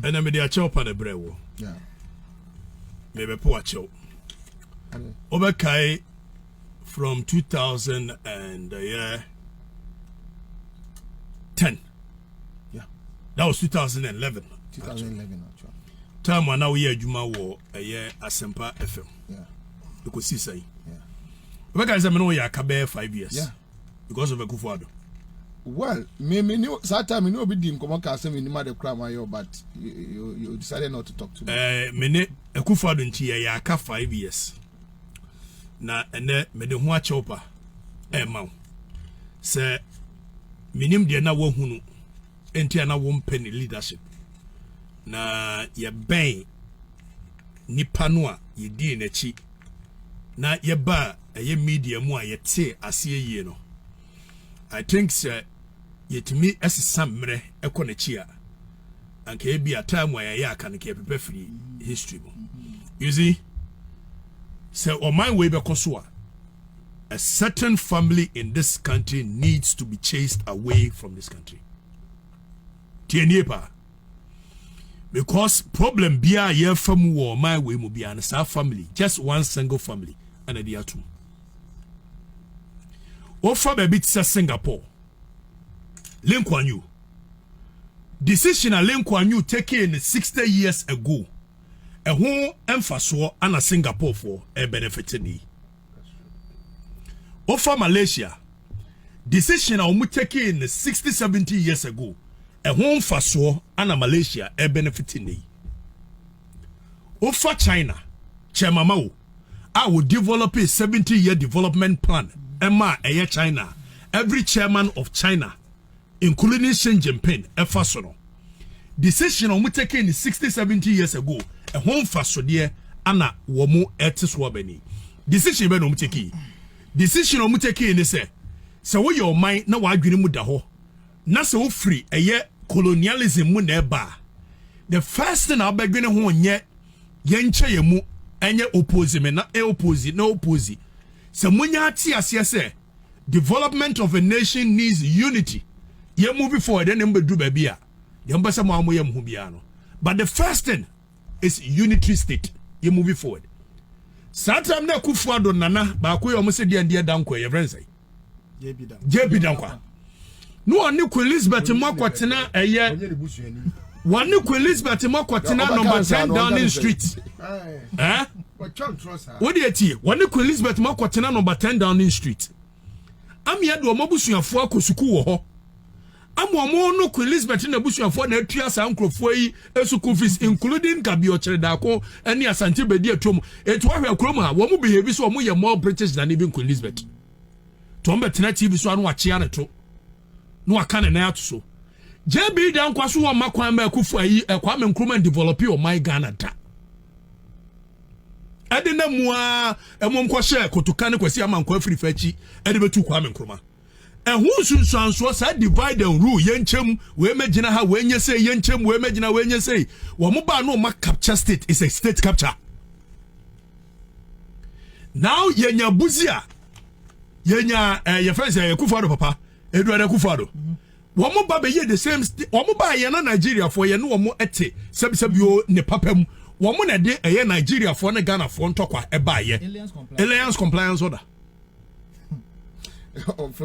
Ɛnna mede akyɛw pa no brɛ wo. Mebɛpo akyɛw. Wobɛkae from 2000 and uh, yeah, 10. Yeah. That was 2011. 2011 actually. Time a na woyɛ adwuma wɔ ɛyɛ Asempa FM. Yeah. Ɛkɔsi sɛn. Yeah. Wobɛkae sɛ me ne woyɛ aka bɛyɛ 5 years. Yeah. because of akufo ado. well me me ne saa time me ne obi di nkɔmɔ kaa sɛ menim ade koraa ma yɛ but you, you decided not to talk to me. ɛɛ eh, me ne akufo ado nti yɛyɛ aka five years na ɛnɛ mede ho akyɛw pa ɛɛma wo sɛ menim deɛ na woahunu Enti a na wɔmpɛ ne leadership. Na yɛbɛn nipa no a yɛdii n'akyi na yɛbaa ɛyɛ media mu a yɛtee aseɛ yie no. I think sɛ yɛtumi ɛsesa mmerɛ ɛkɔ n'akyi a anka ebi a time a yɛyɛ aka no ka yɛpepa firi history mu. You see, sɛ ɔman wei bɛkɔ so a A certain family in this country needs to be chased away from this country. Tienie pa. Because problem biya ye famu wo my way mu biya na sa family, just one single family ana di atum. Ofa baby tisa Singapore. Lee Kuan Yew. Decision a Lee Kuan Yew taking 60 years ago. Ɛho mfasoɔ ana Singapore for ɛbenefit ni. wofa malaysia decision a wɔn taking no sixty seventy years ago ɛho mfasoɔ ana malaysia ɛbenefit ne yi wofa china kyɛmama wo a wɔ develop a seventy year development plan ɛma ɛyɛ china every chairman of china including Xi Jinping ɛfa so no, decision a wɔn take in sixty seventy years ago ɛho nfasodeɛ ana wɔn ɛte so abɛni decision bɛ na wɔn take in decision a wɔn take in ne sɛ sɛ woyɛ ɔman na wadwene mu da hɔ na sɛ wofiri ɛyɛ colonialism mu na ɛba the first thing a wobɛdwene ho nyɛ yɛn nkyɛ yɛn mu ɛnyɛ opposing me na ɛopposing na opposing sɛ mo nya ate aseɛ sɛ. Development of a nation needs unity. Yɛn movie for ɛdɛ na mbɛduru baabi a deɛ mbɛsɛ mo a mo yɛ mo ho biara no. But the first thing is unitary state. Yɛn movie forward. Saa time na Akufo Addo nana baako yɛ ɔmo sɛ deɛ ndeɛ dankwa yɛ fɛn sɛ. JB Dankwa. ne wɔne Queen Elizabeth mu akɔtena ɛyɛ wɔne Queen Elizabeth mu akɔtena number ten Downing Street ɛɛ wode etie wɔne Queen Elizabeth mu akɔtena number ten Downing Street amia de wɔn abusuafoɔ akɔ sukuu wɔ hɔ ama wɔn no Queen Elizabeth na abusuafoɔ na atua saa nkurɔfoɔ yi sukuu fees including kabiɔkyerɛ daako ne asante bedi atom etu ahwɛ kurom a wɔn behave so wɔn yɛ more British than even Queen Elizabeth. nti wɔn bɛ tena tv so ano akyea ne to na waka ne nan ato so jb da nkwa so wɔn mma kwan ma akufo ayi ɛkwame nkrumah develop ɔman ghana da ɛde na mu a ɛmom kɔhyɛ kotoka ne kwasi ama nkɔ afiri fa akyi ɛde bɛtu kwame nkrumah ɛho nsunsuansoɔ saa divide and rule yɛnkyɛm wei mɛgyina ha wei nyɛ sei yɛnkyɛm wei mɛgyina wei nyɛ sei wɔn ba no ma capture state is a state capture now yɛnya buzi a yɛnya eh, yɛfrɛ sɛ eh, kufado papa eduada kufado wɔn ba bɛyɛ the same wɔn ba yɛn na nigeriafoɔ yɛn ne wɔn ɛte sɛbisɛbi o ne papa mu wɔn na ɛde ɛyɛ nigeriafoɔ ne ghanafoɔ ntɔkwa ɛbaayɛ alliance compliance order.